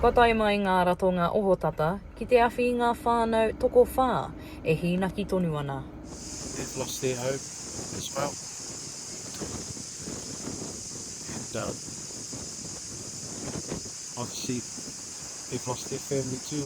Kua tae mai ngā ratonga ohotata ki te awhi i ngā whānau tokowhā e hīnaki tonu ana. They've lost their home as well and um obviously they've lost their family too.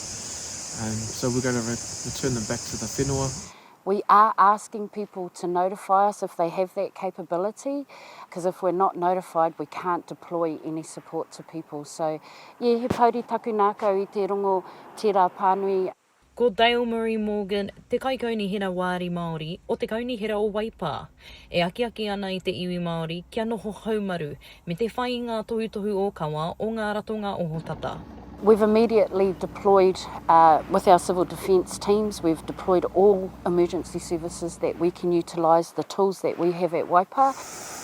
and so we're going to return them back to the whenua. We are asking people to notify us if they have that capability because if we're not notified we can't deploy any support to people so yeah he pouri taku nākau i te rongo tērā pānui. Ko Dale Murray Morgan te Kaikaunihera Wāri Māori o te Kaunihera o Waipā. E akiaki ana i te iwi Māori kia noho haumaru, me te whai i ngā tohutohu ōkawa o ngā ratonga ohotata. We've immediately deployed with our civil defence teams, we've deployed all emergency services that we can utilise the tools that we have at Waipā.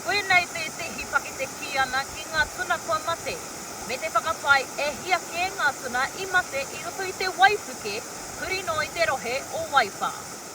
Koinei tētehi pakete kī ana ki ngā tuna kua mate, me te whakapae e hia kē ngā tuna i mate i roto i te waipuke huri noa i te rohe o Waipā.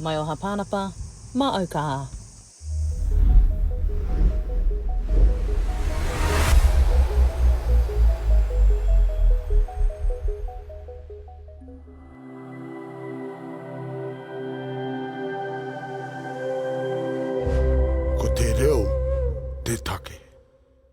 Mai o Hapanapa, ma au ka. Ko te reo te take.